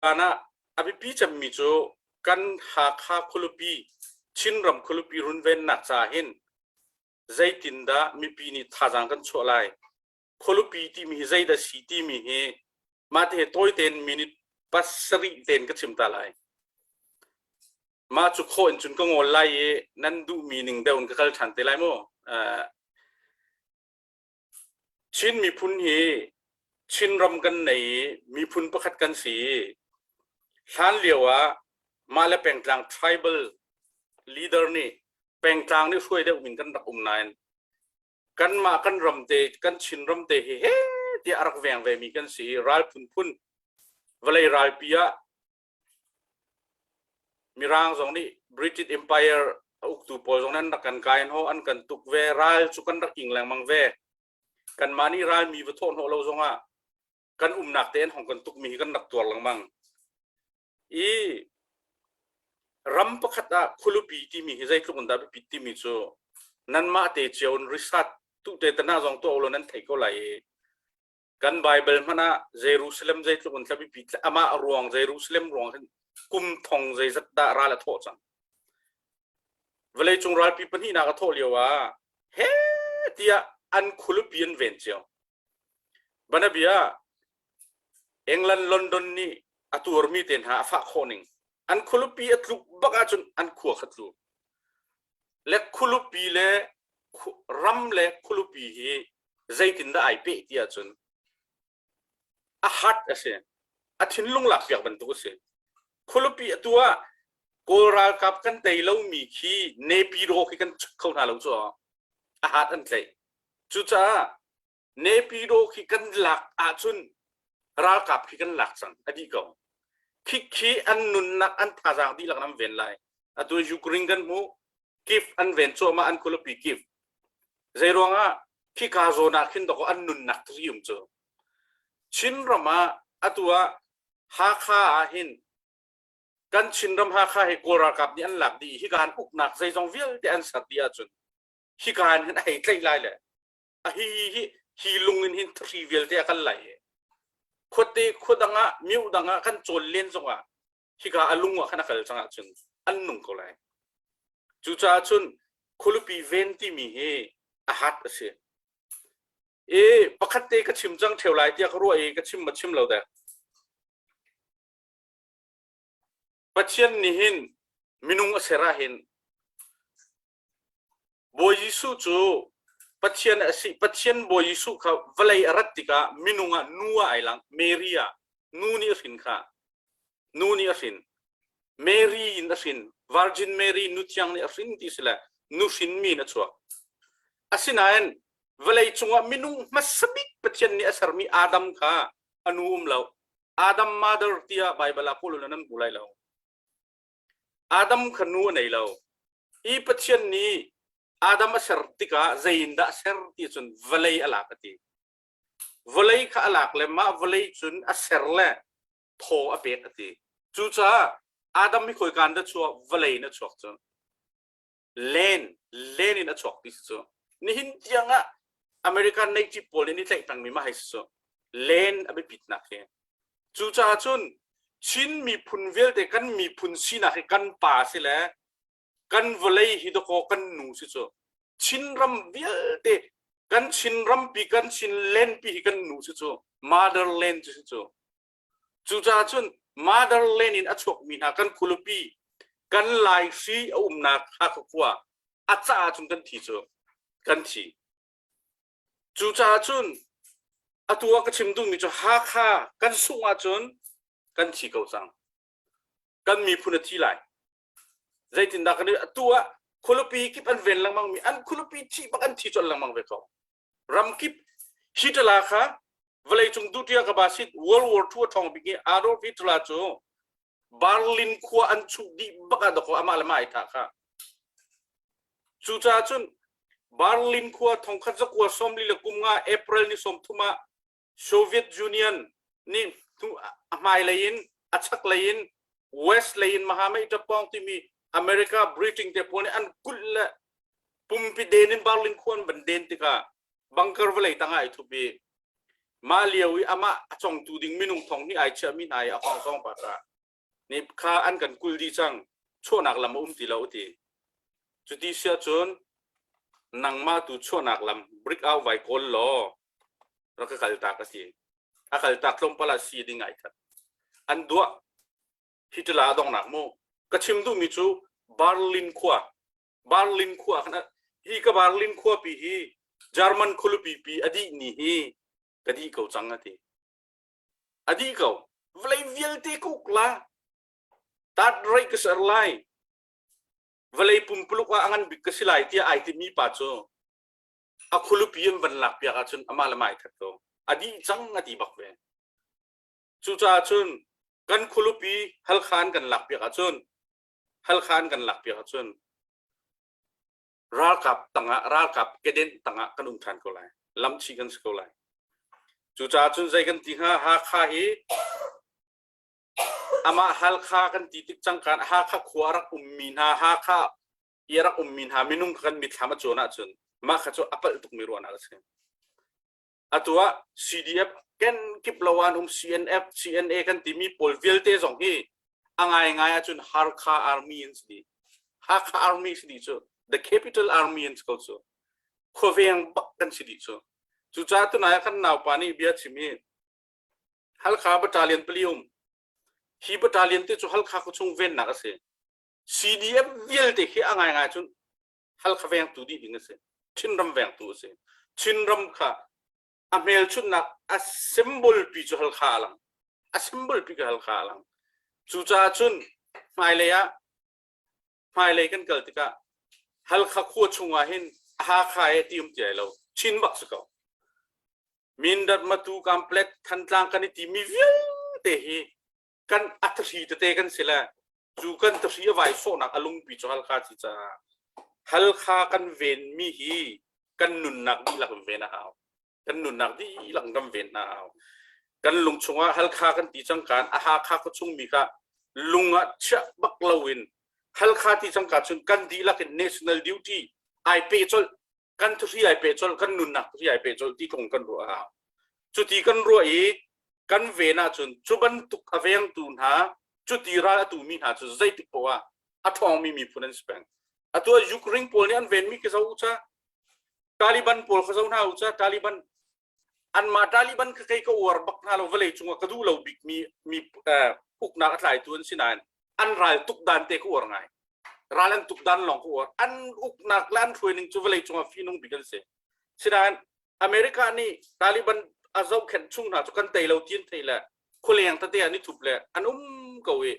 Hlan ah a biapi cemmi cu kan Hakha khualipi Chinram khualipi runvennak ca hin zeitindah mipi nih thazaang kan chuah lai khualipi timi hi zeidah si timi hi mahte tawi tein minute pasarih tein ka chim ta lai mah cu khaw in cun ka ngol lai i nan duhmi ning deuh in ka kal ṭhan te lai mu Chin miphun hi Chin ram kan nei i miphun pakhat kan si i hlan lio ah mah le pengtlang tribal leader nih pengtlang nih hruai deuh in kan rak um nain kanmah kan ram te kan Chin ram te hi he tiah a rak veng vemi kan si i ral phunphun vawlei ralpi ah Mirang zong nih British Empire a uktu pawl zong nan rak kan kai ho an kan tuk ve ral cu kan rak ing lengmang ve kanmah nih ralmi va thawh hnawh lo zongah kan umnak tein hong kan tukmi hi kan rak tuar lengmang i ram pakhat ah khulupi timi hi zeitluk in dah biapit timi cu nanmah te cio in risat tu te tana zong tuah lo nan thei ko lai i kan Baibal hmanh ah Jerusalem zeitluk in tlabipi amah ruang Jerusalem ruang hin kum thong zeizat dah ral a thawh cang vawleicung ralpi pahnihnak a thawh lio ah he tiah an khulupi an ven cio banabia England London nih a tuarmi te hna a fah khawh ning an khulupi a tluk bak ahcun an khua kha tluk le khulupi le ram le khulupi hi zeitindah ai peh ti ahcun a hat a si a thinlung lakpiak bantuk a si khulupi a tu ah kawl ralkap kan tei lomi khi nepi raw khi kan kho hna lo cu a hat an tlaih cucaah Nepido khi kan lak ahcun ralkap khi kan lak cang a dih ko khikhi an nunnak an thazaang dihlak an ven lai atu Ukraine kan hmu kif an ven cuahmah an kulapi kif zei ruangah khika zawn ah khin doko an nunnak tri um cu Chin ram ah atu ah Hakha ah hin kan Chin ram Hakha he Kawl ralkap nih an lak dih hika an uknak zeizong vialte an ser dih ahcun hika an hin hei tlaih lai le a hi hi hi hi lung in hin thri vialte a kan lai khuate khua dang ah miu dang ah kan cawl len zong ah hika a lung ah khan a kal cang ah cun an nung ko lai cucaah cun khulupi ven timi hi a hat a si e pakhat te ka chim cang theo lai tiah ka ruah i ka chim ma chim lo de pathian nih hin minung a sera hin Bawi Jesuh cu Pathian a si. Pathian Bawi Jesuh kha vawlei a rat tikah minung ah nu ah ai lang. Mary ah nu nih a hrin kha. Nu nih a hrin. Mary in a hrin. Virgin Mary nu thiang nih a hrin ti si le nu hrin mi in a chuak. Asinain vawlei cungah minung hmasa bik Pathian nih a sermi Adam kha a nu um lo. Adam mother tiah Baibal ah kawlulun an hmu lai lo. Adam kha nu a nei lo. Hi Pathian nih Adam a ser tikah zeiindah a ser ti cun vawlei a lak a ti. Vawlei kha a lak le mah vawlei cun a ser le thaw a pek a ti. Cucaah Adam hi khoi kan da chuah vawlei na chuak cun len len in a chuak ti cu nihin tiang ah American neighbor pawl nih ni tlaih pengmi ma hai su len a biapitnak hi cu caah cun Chin miphun vialte kan miphun sinak hi kan pa si le kan vawlei hi dakaw kan nu si cu Chin ram vialte kan Chin rampi kan Chin lenpi hi kan nu si cu motherland si cu Cucaah cun motherland in a chuakmi hna kan khualupi, kan laihri a umnak Hakha khua a caah cun kan thi cu kan thi. Cucaah cun atu ah ka chim duhmi cu Hakha kan sungh ahcun kan thi ko cang. Kan miphun a thi lai. Zeitindah kan atu ah khualupi kip an ven lengmangmi an khualupi thih bak an thi colh lengmang ve ko. ramkip hi ṭala kha vawleicung duhṭi ah ka ba sit World War II a ṭhawng bik i Adolf Hitler cu Berlin khua an chuh dih bak ah dakaw amah le mah ai thah kha cucaah cun Berlin khua thongkhat zakua sawmli le kum nga April ni sawm thum ah Soviet Union nih a hmailei in a chaklei in West lei in mahamei tapawng timi America Britain te pawl nih an kulh le pumpi den in barling khuan ban den tikah bunker vawlei tang ai thup i mah lio i amah a congtu ding minung thong hnih ai chiahmi hna i a hong zong pa ta. nepkha an kan kul dih cang chuahnak lam a um ti lo ti cu ti siah cun nangmah tu chuahnak lam brick au vai kawl law rak ka kal tak a si a kal tak tlawmpal ah si ding ai that an duah hitala dong nak mu ka chim du mi cu Berlin khua Berlin khua kan hi ka Berlin khua pi hi German khulupi pi adi ni hi ka di ko chang ati a dih ko vawlei vialte kuk la tat rei ka ser lai vawlei pumpuluk ah a ngan bik ka si lai tiah ai timi pa cu a khulupi in van lak piak ahcun amah le mai that ko a dih cang a ti bak ve cucaah cun kan khulupi halkhan kan lak piak ahcun halkhan kan lak piak ahcun ralkap tangah ralkap kedenh tangah kan um than ko lai lamchi kan si ko lai cucaah cun zei kan ti hnga hakha hi amah halkha kan ti tik cangkan hakha khua rak ummi hna hakha i rak ummi hna minung kan mitthlam a cuan ahcun mah kha cu a palh tukmi ruahnak a si atu ah CDF kenkip lo an um CNF CNA kan timi pawl vialte zong hi a ngaingai ahcun Hakha Army an si di Hakha Army si di cu the capital army an si ko cu khuaveng bak kan si di cu cu ca tu nai kan naupa nih bia chim i Halkha battalion pali um hi battalion te cu Halkha khu chung vennak a si CDF vialte hi a ngaingai cun Halkha vengtu dih ding a si. Chinram vengtu a si. Chinram kha a hmelchunhnak a symbol pi cu halkha a lang. A symbol pi ka halkha a lang. Cucaah cun hmailei ah hmailei kan kal tikah halkha khua chungah hin Hakha e ti um ti ai lo. Chin bak si ko. Mindat, Matu, Kamplet, Thantlang kan i ti mi vialte hi kan a thahri tete kan si le cu kan thahri a vai sawhnak a lungpi cu halkha ci caah halkha kan venmi hi kan nunnak dihlak in ven a hau kan nunnak dihlak kan ven hna hau kan lung chungah halkha kan ti cangkaan a hakha ko chungmi kha lungah chiah bak loin halkha ti cangka chun kan dihlak in national duty ai pe colh kan thuhri ai pe colh kan nunnak thuhri ai pe colh ti kong kan ruah hau cuti kan ruah i kan ven ahcun cu bantuk a vengtu hna cuti ral a tumi hna cu zeitik poah a ṭhawngmi miphun an si peng atu ah Ukraine pawl nih an venmi ka zo ca Taliban pawl ka zo hna u ca Taliban anmah Taliban kha kei ka uar bak hna lo vawlei cungah ka duh lo bik mi mi uknak a tlaitu an si nain an ral tuk dan te ka uar ngai ral an tuk dan lawng ka uar an uknak le an hruai ning cu vawlei cungah finung bik an si sinain America nih Taliban a zohkhenh chung hna cu kan tei lo tin thei le khualeng tate an i thup le an um ko i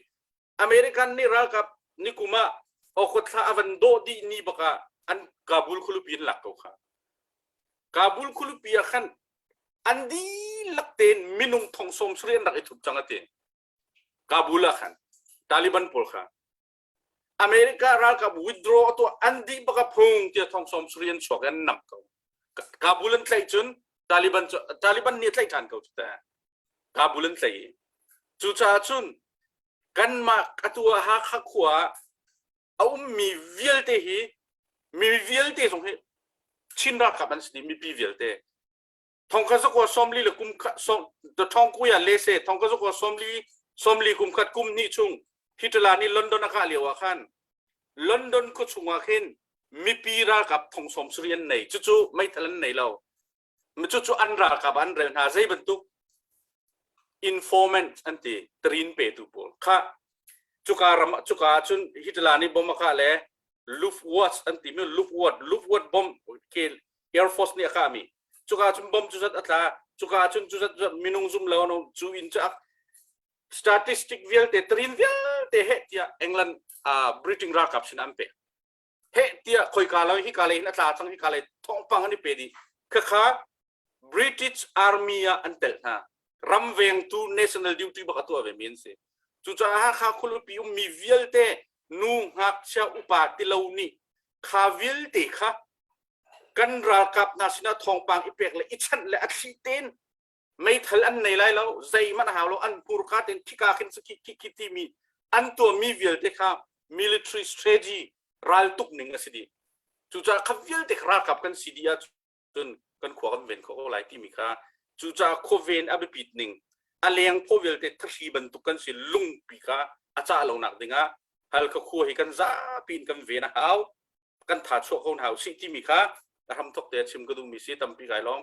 American nih ralkap nikum ah Okhot thla a van dawh dih ni bak ah an Kabul khualupi an lak ko kha. Kabul khualupi ah khan an dihlak tein minung thong sawm sari an rak i thup cang atin. Kabul ah khan Taliban pawl kha America ralkap withdraw atu an di baka phung tia thong som suri an chuak an nam ko Kabul an tlaih cun Taliban cu Taliban ni tlaih than ko ta Kabul an tlaih i cucaah cun kanmah a tu ah Hakha khua ah a ummi vialte hi mi vialte zong hi Chin ralkap an si i mipi vialte thongkhat zakua sawmli le kum khat thongkuya lese thongkhat zakua sawmli sawmli kum khat kum hnih chung hitala nih London a kah lio ah khan London khuachung ah khin mipi ralkap thongsawm sari an nei cucu meithal an nei lo Cucu an ralkap an rel hna zei bantuk informant an ti trin petu pawl kha cuka ram cuka ahcun Hitler nih bomb a kah le Luftwaffe an ti mi Luftwaffe Luftwaffe bomb ke Air Force nih a kah mi cuka ahcun bomb cu zat a tla cuka ahcun cu zat minung zum lo no cu in cu statistic vialte trin vialte he tiah England uh, Britain ralkap sin an pek heh tiah khoika lo hika lei hin a tla cang hika lei thongpang an i pe dih khakha British Army ah an tel hna ram vengtu national duty bak a tuah ve mi an si cucaah Hakha khulipi um mi vialte nu ngakchia upa tilo nih kha vialte kha kan ralkap hna sinah thawngpang i pek le i chanh le a thli ten meithal an nei lai lo zeihmanh a hau lo an hmurka tein khika khin su khi khi timi an tuahmi vialte kha military strategy raltuk ning a si dih cucaah kha vialte kha ralkap kan si dih ahcun kan khua kan ven khawh lai timi kha cucaah khoven a biapit ning a leng phaw vialte thahri bantuk kan si lungpi kha a cah lonak dingah hal ka khua hi kan zapi in kan ven a hau kan tha chuah ko hau si timi kha ram thok te chim ka duhmi si tampi kai lawng